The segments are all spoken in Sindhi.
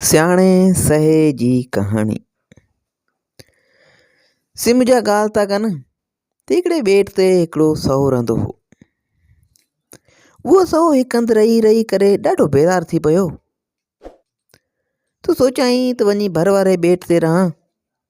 سياڻي سهي جي ڪهاڻي سم جا ڳالهه ٿا ڪن ته هڪڙي ٻيٽ تي هڪڙو سهو رهندو هو اهو سهو هڪ هنڌ رهي رهي ڪري ڏاڍو بيزار ٿي پيو تو سوچيائين ته وڃي ڀر واري ٻيٽ تي رهان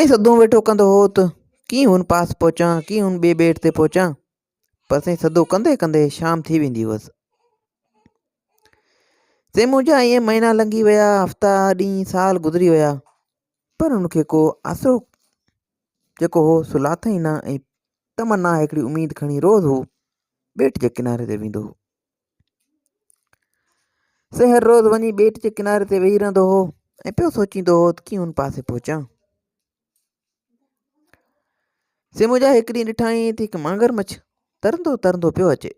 ۽ سڌو ويٺو ڪندو هو ته ڪيئن هن پاس پهچان ڪيئن هن ٻئي ٻيٽ تي پهچان پر سائين سڌو ڪندي ڪندي شام ٿي ويندي هئس سي منهنجا ائين مهينا لنگهي ويا هفتا ڏينهن سال گذري ويا پر هن کي ڪو آسرو جيڪو هو سو لاٿئي نه ۽ تمنا هڪڙي اميد کڻي روز هو ٻيٽ جي ڪناري تي ويندو هو سي هر روز وڃي ٻيٽ جي ڪناري تي ويهي رهندو هو ۽ پيو سوچيندو هو ته ڪيئن ان پاسي پهچان سي منهنجا هڪ ڏينهن ڏٺائين ته هڪ مانگر مڇ ترندو ترندو پيو اچي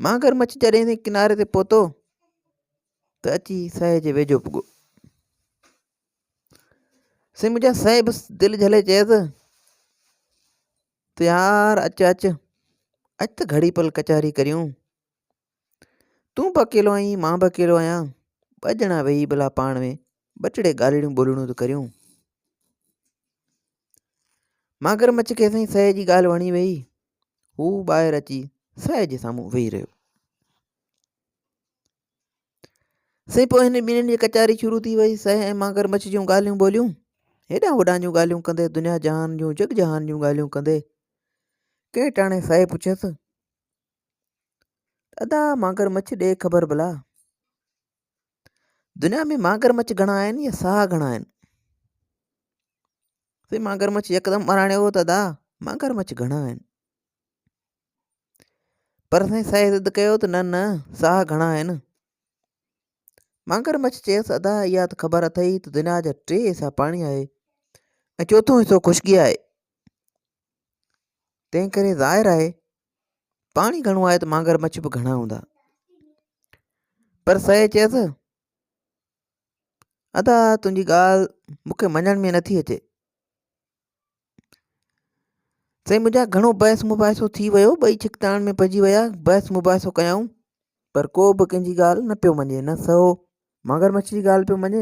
مانگر مڇ جڏهن سي ڪناري تي پهتو ته اچي سئي جي ويجهو پڳو سي منهنجا سئي بس دل جهلي چيس سيار، اچ اچ، اچ ته گهڙي پل ڪچهري ڪريون. تون به اڪيلو آهين، مان به اڪيلو آهيان، ٻه ڄڻا ويهي ڀلا پاڻ ۾ ٻه ٽڙي ڳالهڙيون ٻولهڙيون ته ڪريون. ماگر مڇ کي سائين سهي جي ڳالهه وڻي ويئي. هو ٻاهر اچي سهي جي سامهون ويهي رهيو. سائين پوء هن ٻنهي جي ڪچهري شروع ٿي وئي. سهي ۽ مانگر مڇ جون ڳالهيون ٻولهيون، هيڏانهن هوڏانهن جون ڳالهيون ڪندي، دنيا جهان جون جڳ جهان جون ڳالهيون ڪندي، ڪنهن ٽاڻي سهي پڇيس ته ادا مانگر مڇ ڏي خبر ڀلا! دنيا ۾ مانگر مڇ گهڻا آهن يا ساهه گهڻا آهن؟ سائين مانگر مڇ يڪدم اراڻيو هو ته ادا مانگر مڇ گهڻا آهن. پر سائين سائينء ضد ڪيو ته نه نه ساهه گهڻا آهن. مانگر مڇ چيس ادا اها ته خبر اٿئي ته دنيا جا ٽي حصا پاڻي آهي ۽ چوٿون حصو خشڪي آهي. تنهن ڪري ظاهر آهي پاڻي گهڻو آهي ته مانگر مڇ به گهڻا هوندا. پر سائينء چيس ادا تنهنجي ڳالهه مون کي مڃڻ ۾ نٿي اچي. سائين منهنجا گهڻو بحث مباحثو ٿي ويو ٻئي ڇڪتاڻ ۾ پئجي ويا بحث مباحثو ڪيائون پر ڪو به ڪنهن جي ڳالهه نه پيو مڃي نه سهو مانگر مڇ جي ڳالهه پيو مڃي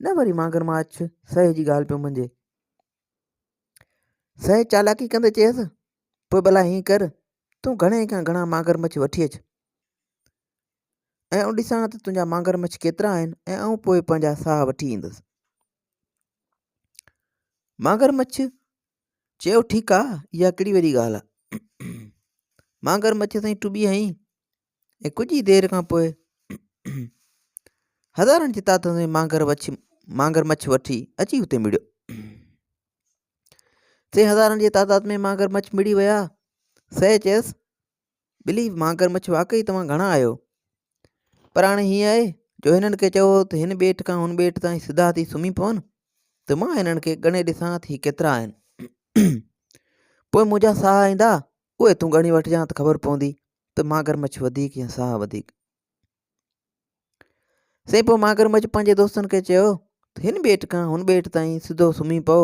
نه وري مانگر ماڇ سهي جي ڳالهه پيو مڃي سهي چالاڪي ڪندي چيس پوء ڀلا هين ڪر تون گهڻي کان گهڻا مانگر مڇ وٺي اچ ۽ آئون ڏسان ته تنهنجا مانگر مڇ ڪيترا آهن ۽ آئون پوء پنهنجا ساهه وٺي ايندس مانگر مڇ چيو ٺيڪ آ اها ڪهڙي وڏي ڳالهه آ مانگر مڇ سائين ٽٻي هنئي ۽ ڪجهه ئي دير کان پوء هزارن جي تعداد ۾ مانگر مڇ مانگر مڇ وٺي اچي اتي مڙيو سي هزارن جي تعداد ۾ مانگر مڇ مڙي ويا سي چيس ٻلي، ماگرمڇ واقعي توهان گهڻا آهيو. پر هاڻي هيئن آهي جو هنن کي چئو ته هن ٻيٽ کان هن ٻيٽ تائين سڌا ٿي سمهي پون ته مان هنن کي ڳڻي ڏسان ته هي ڪيترا آهن. پوء منهنجا ساهه ايندا، اهي تون ڳڻي وٺجان ته خبر پوندي ته ماگرمڇ وڌيڪ يا ساهه وڌيڪ. سائين پوء ماگرمڇ پنهنجي دوستن کي چيو ته هن ٻيٽ کان هن ٻيٽ تائين سڌو سمهي پئو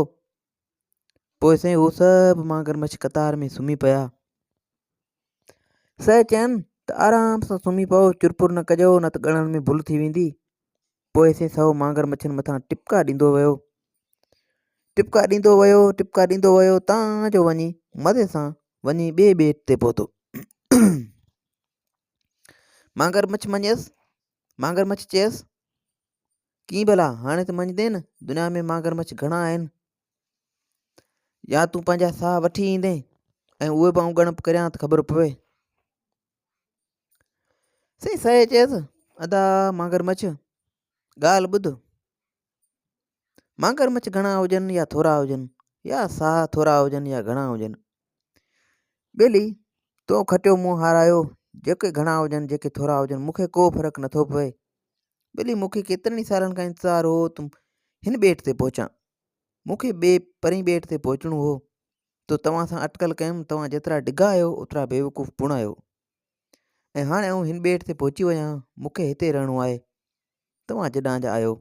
پوء سائين هو سڀ مانگر مڇ قطار ۾ سمهي پيا سائين چين ته آرام سان سمهي پئو چرپر نه ڪجو نه ته ڳڻڻ ۾ ڀل ٿي ويندي پوء سائين سو مانگر مڇن مٿان ٽپڪا ڏيندو ويو ٽپڪا ڏيندو ويو ٽپڪا ڏيندو ويو تان جو وڃي مزي سان وڃي ٻئي ٻيٽ تي پهتو مانگر مڇ مڃيس مانگر مڇ چيس ڪيئن ڀلا هاڻي ته مڃدين نه دنيا ۾ ماگرمچ گهڻا آهن يا تون پنهنجا ساهه وٺي ايندين ۽ اهي به آئون ڳڻپ ڪريان ته خبر پوي سائين سائي چيس ادا ماگرمچ ڳالهه ٻڌ ماگرمچ گهڻا هجن يا ٿورا هجن يا ساهه ٿورا هجن يا گهڻا هجن ٻلي، تون کٽيو مون هارايو، جيڪي گهڻا هجن جيڪي ٿورا هجن مون کي ڪو فرق نه ٿو پوي. ٻلي، مون کي ڪيترن ئي سالن کان انتظار هو ته هن ٻيٽ تي پهچان. مون کي ٻئي پرين ٻيٽ تي پهچڻو هو تو توهان سان اٽڪل ڪيم توهان جيترا ڊگها آهيو اوترا بيوقوف پڻ آهيو ۽ هاڻي آئون هن ٻيٽ تي پهچي ويان مون کي هتي رهڻو آهي توهان جڏان جا آهيو،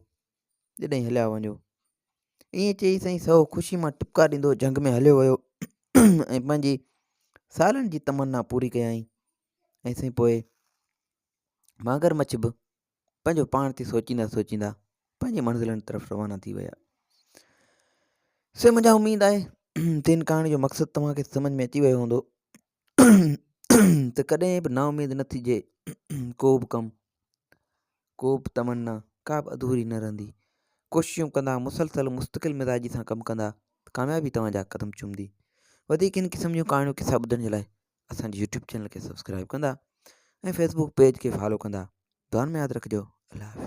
جڏهين هليا وڃو. ائين چئي سائين سهو خوشي مان ٽپڪا ڏيندو جهنگ ۾ هليو ويو ۽ پنهنجي سالن جي تمنا پوري ڪيائين ۽ سائين پوء ماگر مڇ به پنهنجو پاڻ تي سوچيندا سوچيندا پنهنجي منزلن طرف روانا ٿي ويا سي منهنجا اميد آهي ته هن ڪهاڻي جو مقصد توهان کي سمجھ ۾ اچي ويو هوندو ته ڪڏهن به نااميد نه ٿجي، ڪو به ڪم، ڪو به تمنا، ڪا به اڌوري نه رهندي. ڪوششون ڪندا، مسلسل مستقل مزاجي سان ڪم ڪندا ته ڪاميابي توهان جا قدم چمندي. وڌيڪ هن قسم جون ڪهاڻيون قصا ٻڌڻ جي لاء اسان جي يوٽيوب چينل کي سبسڪرائب ڪندا ۽ فيسبوڪ پيج کي فالو ڪندا. دعائن ۾ ياد رکجو. الله حافظ.